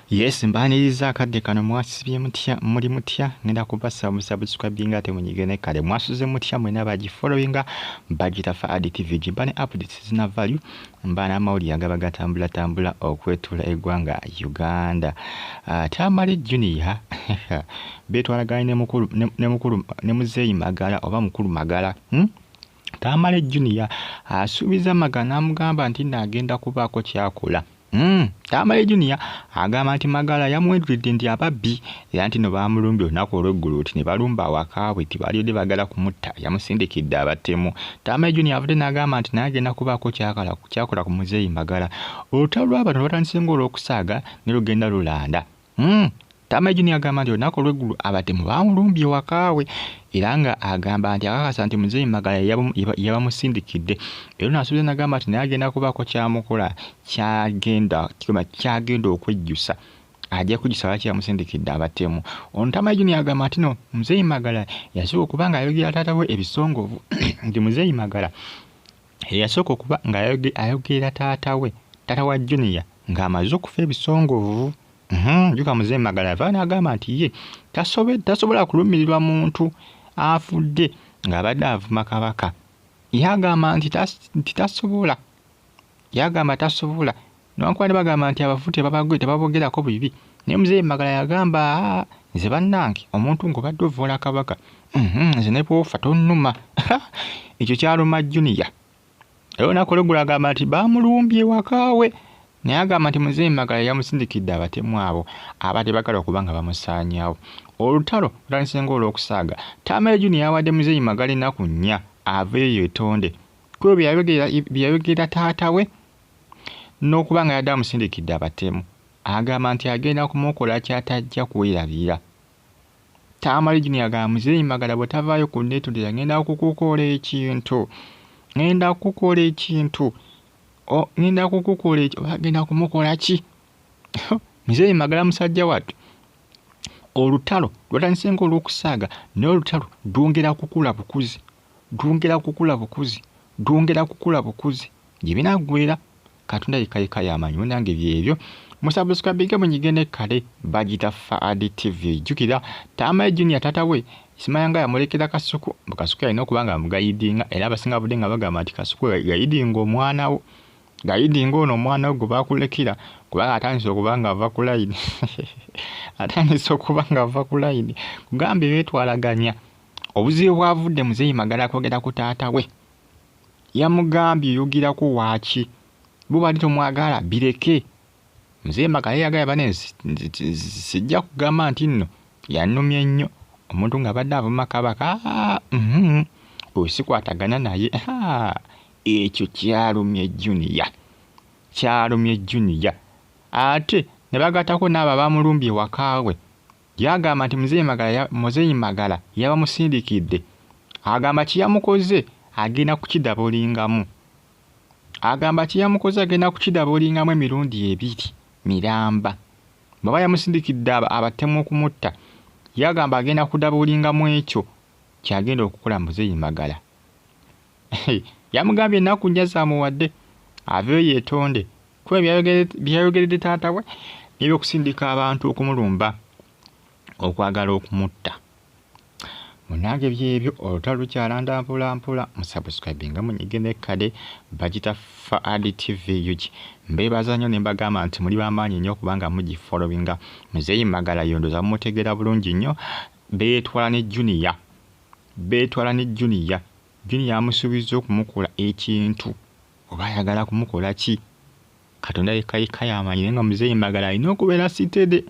yes mbaniriza akadde kano mwasibye mutya muli mutya ngenda kubasa musabusikwabinga ate munyige ne kale mwasuze mutya mwena bagifollowinga bagita fa adi tv gimba ne updates zina value mba n'amawulire agaba gatambula tambula okwetula eggwanga uganda uh, tamale junior betwalaganye ne mukulu ne mukulu ne muzeeyi magala oba mukulu magala hmm? tamale junior asuubiza magana amugamba nti naagenda kubaako kyakola Mm, Tamale Junior agamba nti Magala yamwedulidde nti ababbi era nti no baamulumbye olunaku olw'eggulo nti ne balumba awaka bwe nti baalibadde baagala kumutta yamusindikidde abatemu. Tamale Junior avudde n'agamba nti naye agenda kubaako ky'akola ku muzeeyi Magala. Olutalo lwa bano lwatandise ng'olw'okusaaga ne lugenda lulanda. Mm. Tama Junior agamba nti olunaku olw'eggulu abatemu baamulumbye wakaawe era nga agamba nti akakasa nti muzeeyi Magala yabamusindikidde era naasuubiza nagamba nti naye agenda kubaako kyamukola kyagenda kigamba kyagenda okwejjusa ajja kujjusa lwaki yamusindikidde abatemu ono Tama Junior agamba nti no muzeeyi Magala yasooka okuba nga ayogera taata we ebisongovu nti muzeeyi Magala eyasooka okuba ng'ayogerera taata we taata wa junior ng'amaze okufa ebisongovu mhm, njuka muze magala yava n'agamba nti ye tasobola kulumirirwa muntu afudde ng'abadde avuma kabaka yagamba nti tasobola yagamba tasobola Newankubadde bagamba nti abafu tebabagwe tebabogerako bibi naye muzeeyi Magala yagamba ah, nze bannange omuntu ng'obadde ovvoola kabaka mhm, nze ne bwofa tonnuma ekyo kyaluma juniya era olunaku olweggulu agamba nti baamulumbye wakaawe naye agamba nti muzeeyi Magala yamusindikidde abatemu abo abadde bagala okuba nga bamusaanyawo olutalo lutandise ng'olw'okusaaga taamale juniya yawadde muzeeyi Magala ennaku nnya aveeyo yetonde kubo bye yayogera taata we n'okuba nga yadde amusindikidde abatemu agamba nti agenda kumukola kyatajja kwerabira. Tamale Junior agamba muzeeyi Magala bwe tavaayo ku nneetondera ngenda kukukola ekintu ngenda kukukola ekintu ngenda kukukola eki oba agenda kumukola ki muzeeyi Magala musajja wattu olutalo lwatandise ng'olw'okusaaga naye olutalo lwongera kukula bukuzi. Dwongera kukula bukuzi, dwongera kukula bukuzi. Gye binaggweera, Katonda yekka yekka y'amanyi. Munange byebyo. Musabuskrabinge munyige ne kale. Bagita Faad TV. Jjukira, Tamale Junior taata we, Isimayanga yamulekera Kasuku. Mbu Kasuku yalina okuba nga amugayidinga era abasinga babadde nga bagamba nti Kasuku gayidinga omwana wo. Gayidinga ono omwana wo gwe baakulekera kubanga atandise okuba ng'ava ku layini. Atandise okuba ng'ava ku layini. Kugambye beetwalaganya. Obuzibu bwavudde muzeeyi Magala kwogera ku taata we. Yamugambye oyogerako waaki? Bo bali tomwagala bireke. Muzeeyi Magala yeyagala bane sijja kugamba nti nno yanumye nnyo omuntu ng'abadde avuma kabaka mm-hmm. oyo sikwatagana naye ekyo kyalumye juniya kyalumye juniya ate ne bagatako n'abo abamulumbye wakaawe Yagamba nti Muzeeyi Magala, ya, Muzeeyi Magala yabamusindikidde. Agamba kye yamukoze agenda kukidabolingamu. Agamba kye yamukoze agenda kukidabolingamu emirundi ebiri miramba. Bw'aba yamusindikidde abatemu okumutta, yagamba agenda kudabolingamu ekyo ky'agenda okukola Muzeeyi Magala. yamugambye ennaku nnya zaamuwadde aveyo yeetonde kuba byayogeredde taata we nebyokusindika abantu okumulumba okwagala okumutta munange byebyo olutalo lukyalanda mpolampola musubscribinga munyige nekkade bagita faad tv ug mbeebaza nnyo ne mbagamba nti muli bamaanyi nnyo kubanga mugifolowinga muzeeyi magala yondoza mumutegeera bulungi nnyo beetwala ne juniya beetwala ne Junior. Junior amusuubizza okumukola ekintu oba ayagala kumukola ki? Katonda yekka yekka y'amanyi naye nga Muzeeyi Magala alina okubeera sitede,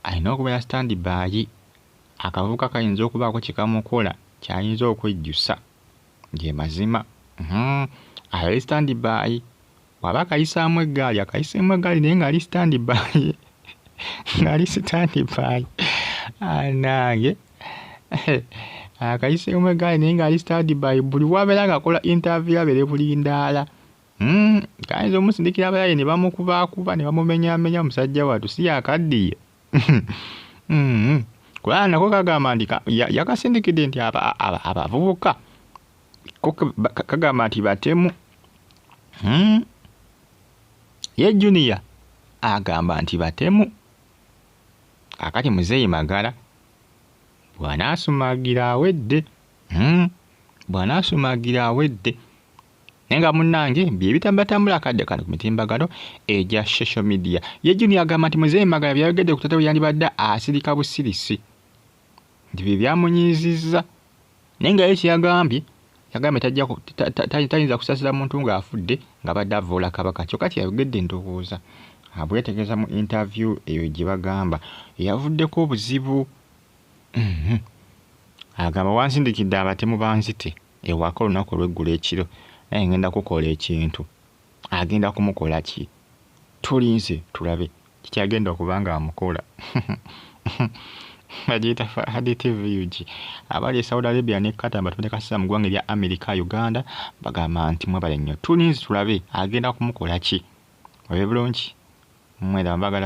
alina okubeera stand by. Akavubuka kayinza okubaako kye kamukola ky'ayinza okwejjusa. Ge mazima. Hum, abeere stand by. waba akayisaamu eggaali akayiseemu eggaali naye ng'ali sitandi baayi ng'ali sitandi baayi anange akayiseemu eggaali naye ng'ali sitandi baayi buli wabeera ng'akola intaviyu abeere bulindaala hmm, kayinza omusindikira abayaye ne bamukubaakuba ne bamumenyaamenya omusajja watu si yakaddiye hmm, kubanga nako kagamba nti yakasindikidde nti abavubuka kagamba nti batemu hmm? ye junior agamba nti batemu akati muzeeyi magala bw'anaasumagira awedde hmm? bw'anaasumagira awedde naye nga munnange bye bitambatambula akadde kano ku mitimbagano egya social media ye junior agamba nti muzeeyi magala byayogedde ku tata we yandibadde asirika busirisi nti bye byamunyiizizza naye nga ye kye yagambye yagambye tajja ku- ta- ta- ta- tayinza kusasira muntu ng'afudde ng'abadde avvoola kabaka kyokka kye yayogedde ndowooza ah, bweyategeeza mu interview eyo gye bagamba eyavuddeko obuzibu Mhm. agamba wansindikidde abatemu banzite ewaka olunaku olweggulo ekiro naye ngenda kukola ekintu Agenda kumukola ki? Tulinze tulabe kiki agenda okuba ng'amukola. Bagiyita Fahad TVUG. Abali e Saudi Arabia ne Qatar batonde kasita mu ggwanga erya Amerika, Uganda bagamba nti mwebale nnyo. Tulinze tulabe agenda kumukola ki. Olabye bulungi? Mwera mbagala nnyo.